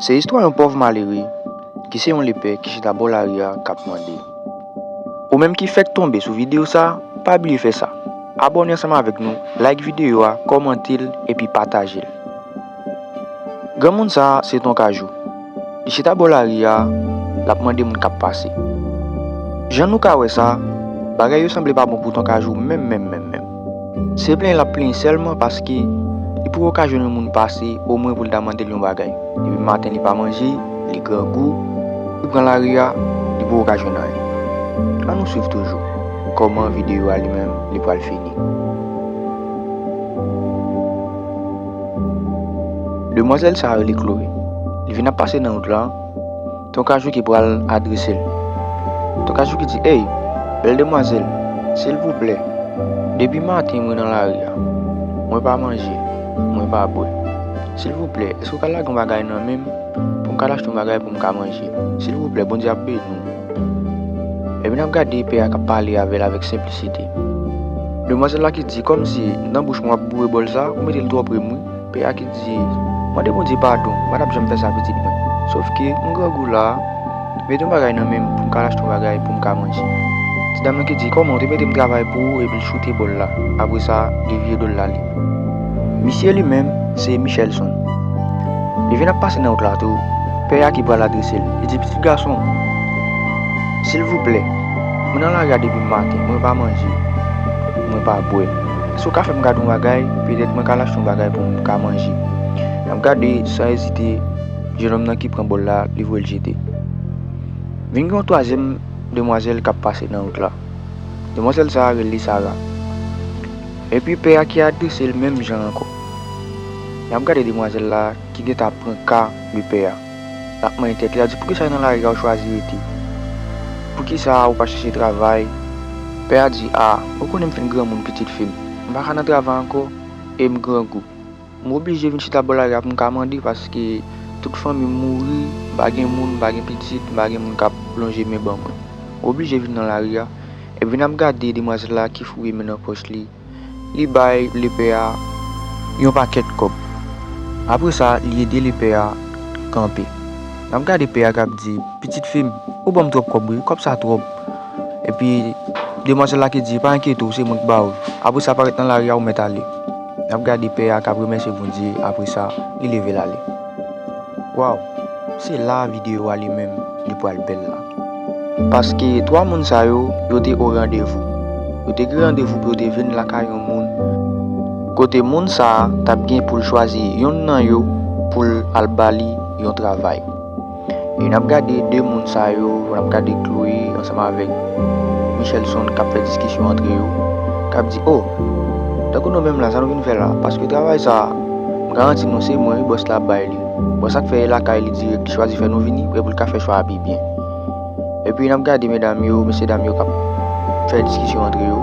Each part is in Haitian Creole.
Se istwa yon pòv malere ki se yon lepè ki chita bò lari a kap mande. Ou menm ki fèk tonbe sou video sa, pa bliye fè sa, abòne ansanm avèk nou, like video a, kòmante l epi pataje l. Granmoun sa se ton Kajou. Li chita bò lari a, lap mande moun kap pase. Jan nou ka wè sa, bagay yo sanble pa bon pou ton Kajou menm menm menm menm. Se plenyen lap plenyen sèlman paske li poko ka jwenn yon moun pase omwen pou l ta mande l yon bagay. Depi maten li pa manje, li grangou, li pran lari a, li poko ka jwenn anyen. An nou swiv toujou kòman videyo a li menm li pral fini. Demwazèl sa rele Chloé. Li vin ap pase nan wout lan. Ton Kajou ki pral adrese l. Ton Kajou ki di, Ey, bèl demwazèl, silvouplè, depi maten mwen nan lari a, mwen pa manje, mwen pa bwè. Silvouplè, èske ou ka lage yon bagay nan men m pou m ka al achte yon bagay pou m ka manje? Silvouplè, Bondye ap beni w. Epi n ap gade pè a k ap pale avè l avèk senplisite. Demwazèl la ki di, Kòmsi nan bouch mwen w ap boure bòl sa a, ou mete l twò pre m wi. Pè a ki di, Mande Bondye padon, m pa tap janm fè sa pitit mwen. Sof ke m grangou la a, mete yon bagay nan men m pou m ka al achte yon bagay pou m ka manje. Ti dam nan ki di, Kòman, ou te mete m travay pou ou epi l choute bòl la, apre sa li vire do l l ale. Misye li menm se Michelson. Li vin ap pase nan wout la tou, pè a ki pral adrese l, li di, Pitit gason m, silvouplè, mwen nan lari a depi maten, mwen pa manje, mwen pa bwè. Si w ka fè m gade yon bagay, petèt mwen ka lachte yon bagay pou m ka manje. M ap gade san ezite jenòm nan ki pran bòl la, li voye l jete. Vin gen yon twazyèm demwazèl k ap pase nan wout la. Demwazèl sa a rele Sara. Epi pè a ki adrese l menm jan ankò. L ap gade demwazèl la ki gentan ap pran ka de pè a. Lap manyen tèt li a di poukisa nan lari a ou chwazi rete? Poukisa ou pa chèche travay? Pè a di a, ou konnen m fin granmoun pitit fi m, m pa ka nan travay ankò e m grangou. M oblije vin chita bò lari a pou m ka mande paske tout fanmi m mouri, m pa gen moun, m pa gen pitit, m pa gen moun kap lonje men ban mwen. M oblije vin nan lari a. Epi n ap gade demwazèl la ki fouye men nan pòch li. Li bay lepè a yon pakèt kòb. Apre sa, li ede lepè a kanpe. L ap gade pè a k ap di, Pitit fi m, ou ban m twòp kòb wi. Kòb sa twòp. Epi, demwazèl la ki di, Pa enkyete w, se mwen k ba w l. Apre sa, parèt nan lari a, ou mèt ale. L ap gade pè a k ap remèsye Bondye, apre sa, li leve l ale. Waw! Se la a videyo a li menm li pral bèl la. Paske twa moun sa yo, yo te o randevou. Yo te gen randevou pou yo te vin lakay yon moun, kote moun sa a t ap gen pou l chwazi youn nan yo pou l al ba li yon travay. E n ap gade de moun sa yo, n ap gade Chloé ansanm avèk Michelson k ap fè diskisyon antre yo, k ap di, O! Tankou nou menm la, sa nou vin fè la? Paske travay sa a, m garanti nou se mwen wi bòs la ap bay li. Bon sak fè e lakay li direk li chwazi fè nou vini prè poul ka fè chwa a pi byen. Epi nap gade medam yo, mesye dam yo kap fè diskisyon antre yo.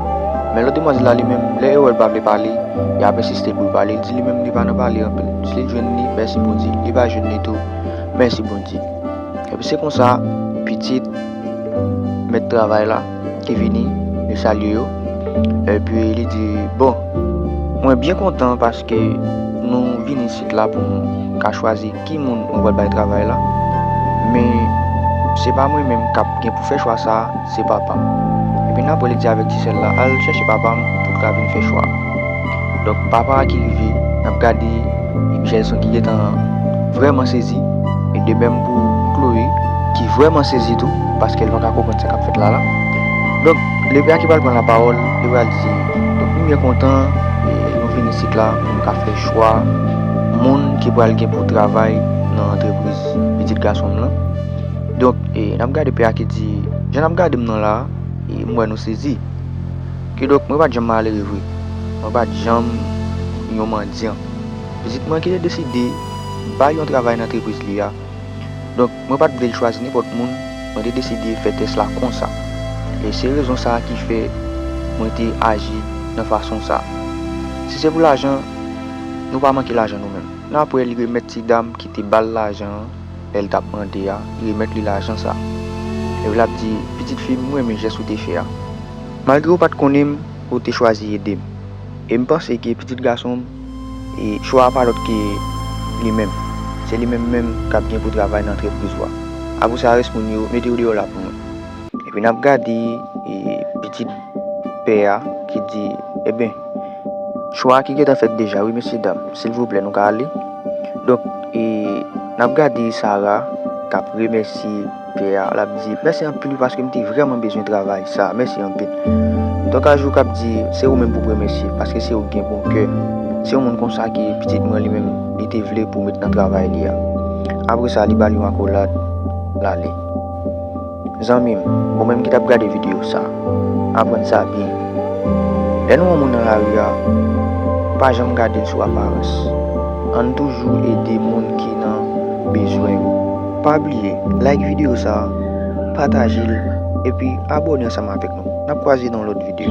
Men lòt demwazèl la li menm lè yo wèl pa vle pale, yo ap ensiste poul pale, li di li menm li pa nan pale anpil, si li jwenn li mèsi Bondye, li pa jwenn li tou mèsi Bondye. Epi se konsa pitit mèt travay la. ki vini, yo salye yo. Epi li di, Bon, mwen byen kontan paske nou vin isit la pou nou ka chwazi ki moun nou pral bay travay la. Men, se pa mwen menm k ap gen pou fè chwa sa a, se Papa m. Epi nan apre li di avèk ti sè l la, Al chèche Papa m pou l ka vin fè chwa a. Donk, papa a ki rive, l ap gade Jason ki gentan vrèman sezi, e de menm pou Chloé ki vrèman sezi tou. Paske li pa ka konprann sa kap fèt la la. Donk Lebra ki pral pran la pawòl, li pral di, donk nou byen kontan nou vin isit la pou nou ka fè chwa moun ki pral gen pou travay nan antrepriz pitit gason m lan. Donk nap gade pè a ki di, jan nap gade m nan la a, m wè nou sezi. Kidonk mwen pa t janm malere vre, mwen pa t janm yon mandyan. Pitit mwen ki te deside bay yon travay nan antrepriz li a. Donk. Mwen pa t vle l chwazi nenpòt moun, mwen te deside fè tès la konsa. E se rezon sa a ki fè mwen te aji nan fason sa a. Si se pou lajan, nou pa manke lajan nou menm. Nan apre li remèt ti dam ki te ba l lajan an, lè l t ap mande a, li remèt li lajan sa a. Epi l ap di, Pitit fi m, m renmen jès ou te fè a. Malgre ou pa t konnen m, ou te chwazi ede m. E m panse ke pitit gason m, e chwa a pa lòt ke li menm. Se li menm menm k ap gen pou travay nan antrepriz ou a. Abousa rès moun yo, mete yo deyò la pou mwen. Epi n ap gade pitit pè a ki di, Enben, chwa a ki gentan fèt deja wi mesyedam, silvouplè nou ka ale? Donk, n ap gade Sara k ap remèsye. Pè a, lap di, Mèsi anpil wi paske m te vrèman bezwen travay sa a, mèsi anpil. Dòk a jouk ap di, Se ou menm pou remèsye, paske se ou k gen bon kè. Se yon moun konsa ke pitit mwen li menm li te vle pou met nan travay li a. Apre sa li ba l yon akolad, l ale. Zanmi m, ou menm ki tap gade videyo sa, aprann sa byen. Lè nou wè yon moun nan lari a, pa janm gade l sou aparans. Ann toujou ede moun ki nan bezwen yo. Pa bliye like video sa, pataje l epi abone ansanm avèk nou. Nap kwaze nan yon lòt video.